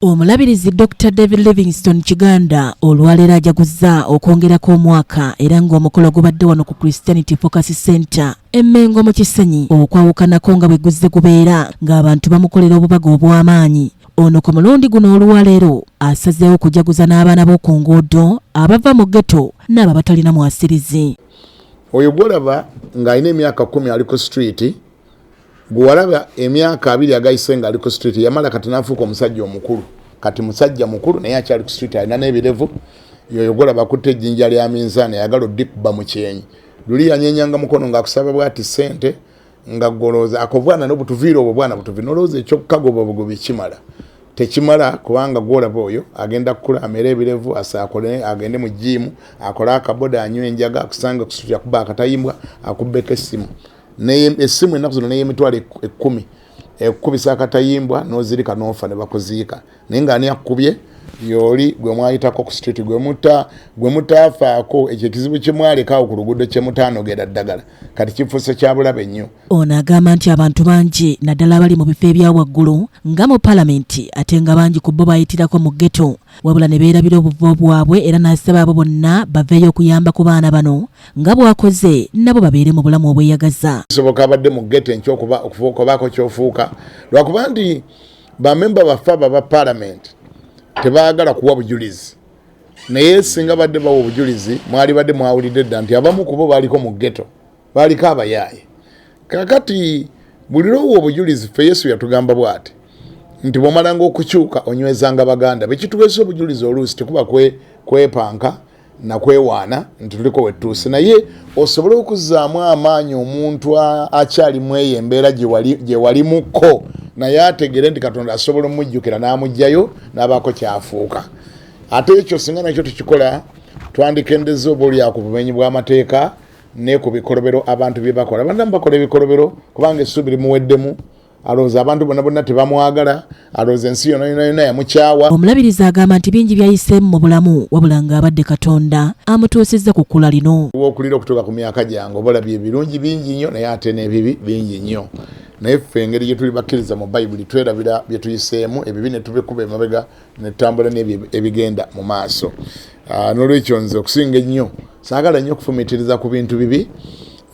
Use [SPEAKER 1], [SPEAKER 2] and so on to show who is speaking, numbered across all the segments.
[SPEAKER 1] Omulabirizi Dr David Livingstone Kiganda olwaleero ajaguzza okwongerako omwaka era ng'omukolo gubadde wano ku Christianity Focus Center Emmengo mu Kisenyi okwawukanako nga bwe guzze gubeera ng'abantu bamukolera obubaga obw'amaanyi ono ku mulundi guno olwaleero asazeewo kujaguza n'abaana b'oku nguudo abava mu geto n'abo abatalina mwasirizi oyo
[SPEAKER 2] gwolaba ng'alina emyaka kumi ali ku streeti gwewalaba emyaka abiri agayise nga ali ku street yamala kati nafuuka omusajja omukulu kati musajja mukulu naye akyali ku street alina n'ebirevu yoyo golaba kutte ejjinja lya minzaani ayagala odikuba mu kyenyi luli yanyenyanga mukono ng'akusaba bwati ssente nga golooza akobwana nobutuviira obwo bwana butuvi nolowooza ekyokukagoba obugobi kimala tekimala kubanga gwolaba oyo agenda kukula amere ebirevu asakole agende mu jiimu akole akaboda anywa enjaga akusange kusutya kuba akatayimbwa akubbeko essimu esimu ennaku zino neyemitwalo ekkumi ekukubisa akatayimbwa nozirika nofa nebakuziika naye nga ani akukubye yoli gwe mwayitako ku street gwe mutaafaako ekyo ekizibu kyemwalekaawo ku luguudo kyemutaanogera ddagala kati kifuuse kyabulabe nnyo ono agamba nti
[SPEAKER 1] abantu bangi naddala abali mu bifo ebya waggulu nga mu palamenti ate nga bangi ku bo bayitirako mu geto wabula ne beerabira obuvo bwabwe era n'asaba abo bonna baveeyo okuyamba ku baana bano nga bw'akoze nabo babeere mu bulamu obweyagaza kisoboka abadde mu
[SPEAKER 2] gete enkya okubaako kyofuuka lwakuba nti bamemba baffe abo aba palamenti tebaagala kuwa bujulizi naye singa badde bawa obujulizi mwali badde mwawulidde dda nti abamu kubo baaliko mu geto baaliko abayaaye kakati buli lwowa obujulizi ffe yesu yatugamba bwati nti bwomalanga okukyuka onywezanga baganda bekituweesa obujulizi oluusi tekuba kwepanka kwe nakwewaana nti tuliko wetuuse naye osobole okuzaamu amaanyi omuntu akyali mweyo embeera gyewalimuko naye ategere nti katonda asobola omujjukira n'amugjayo n'abaako kyafuuka ate ekyo singa nakyo tukikola twandikendeza oba olya ku bumenyi bw'amateeka ne ku bikolobero abantu bye bakola bandamu bakola ebikolobero kubanga essuubi limuweddemu alowooza abantu bona bonna tebamwagala alowooza ensi yona yona yona yamukyawa omulabirizi agamba nti
[SPEAKER 1] bingi byayiseemu mu bulamu wabula nga abadde katonda amutuusizza ku kkula lino wokulira okutuuka ku myaka
[SPEAKER 2] gyange obalabye ebirungi bingi nnyo naye ate n'ebibi bingi nnyo naye ffe engeri gyetuli bakkiriza mu bayibuli twerabira byetuyiseemu ebibi netubikuba emabega netambula nebyo ebigenda mu maaso ah, nolwekyo nze okusinga ennyo saagala nnyo okufumitiriza ku bintu bibi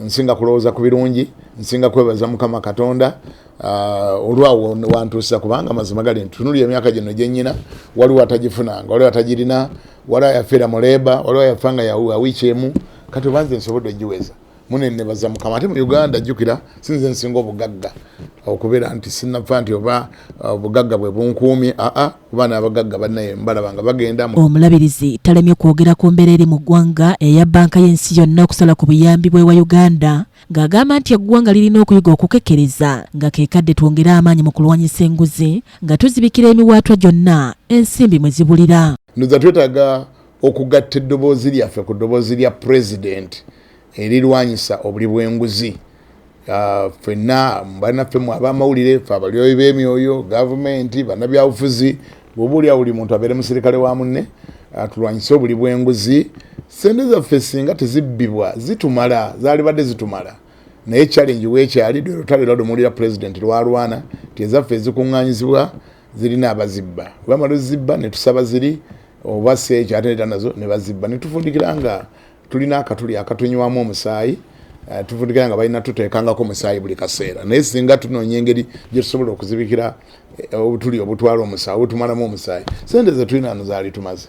[SPEAKER 2] nsinga kulowooza ku birungi nsinga kwebaza mukama katonda ah, olwawo wantuusa kubanga amazima gali ntunuli emyaka gino gyenyina waliwo atagifunanga waliwo atagirina waliwo yafira mu leba waliwo yafa nga yawiiki emu kati obanze nsobodde ogiweza munenebaza mukama ate mu uganda jukira sinze nsinga obugagga okubeera nti sinafa nti oba uh, obugagga bwe bunkuumi aa kuba n'abagagga banaye mbalaba nga bagenda omulabirizi talemye
[SPEAKER 1] kwogera ku mbeera eri mu ggwanga eya banka y'ensi yonna okusala ku buyambi bwewa uganda ng'agamba nti eggwanga lirina okuyiga okukekkereza nga kekadde twongere amaanyi mu kulwanyisa enguzi nga tuzibikira emiwaatwa gyonna ensimbi mwe zibulira ndoza twetaaga
[SPEAKER 2] okugatta eddoboozi lyaffe ku ddoboozi lya pulezidenti erirwanyisa obuli bw'enguzi ah, fenna banaffe mu abamawulire fe abalyoyi b'emyoyo gavumenti banabyabufuzi bwoba olyawo buli muntu abeere musirikale wa munne ah, tulwanyise obuli bw'enguzi sente zaffe singa tezibbibwa zitumala zaalibadde zitumala naye challenge wekyali lwelutalo lwadomuwulira pulezidenti lwalwana ti ezaffe ezikuŋŋanyizibwa zirina abazibba webamala ozibba netusaba ziri oba si ekyo ate neta nazo ne bazibba ne tufundikira nga tulina akatuli akatunywamu omusaayi eh, tufundikira nga balina tuteekangako omusaayi buli kaseera naye singa tunoonya engeri gye tusobola okuzibikira eh, obutuli obutwala omusaayi obutumalamu omusaayi sente ze tulina no zaali tumaze